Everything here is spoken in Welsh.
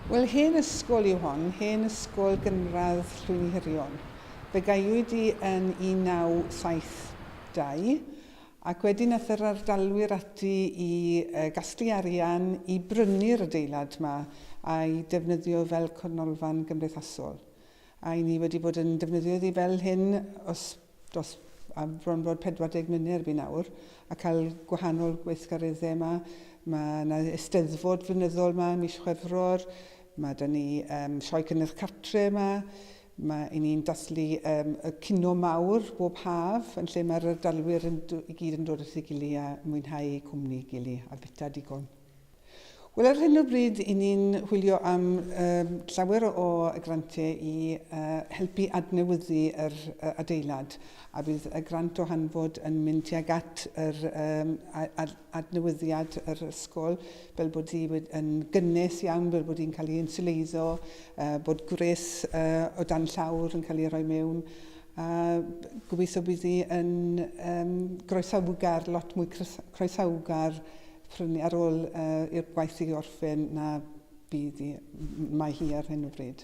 Wel, hen ysgol yw hon, hen ysgol gynradd Llwynhirion. Fe gaewyd hi yn 1972, ac wedyn aeth yr ardalwyr ati i gasglu arian i brynu'r adeilad 'ma a'i defnyddio fel cornolfan gymdeithasol. A'i ni wedi bod yn defnyddio iddi fel hyn os dos a bron bod 40 mlynedd erbyn awr a cael gwahanol gweithgareddau yma. Mae yna eisteddfod flynyddol yma ym mis Chwefror, mae 'da ni um, sioe cynnyrch cartre yma, mae i ni'n dathlu um, y cino mawr bob haf yn lle mae'r ardalwyr yn, i gyd yn dod at ei gili a mwynhau cwmni gili a bita digon. Wel ar hyn o bryd i ni'n hwylio am llawer o grantiau i helpu adnewyddu yr adeilad a bydd y grant o hanfod yn mynd tuag at yr adnewyddiad yr ysgol fel bod hi yn gynnes iawn, fel bod hi'n cael ei insiwleiddo, bod gwres o dan llawr yn cael ei rhoi mewn a gobeithio bydd hi yn groesawgar, lot mwy croesawgar Prin ar ôl i'r gwaith i orffen na bydd hi, mae hi ar hyn o bryd.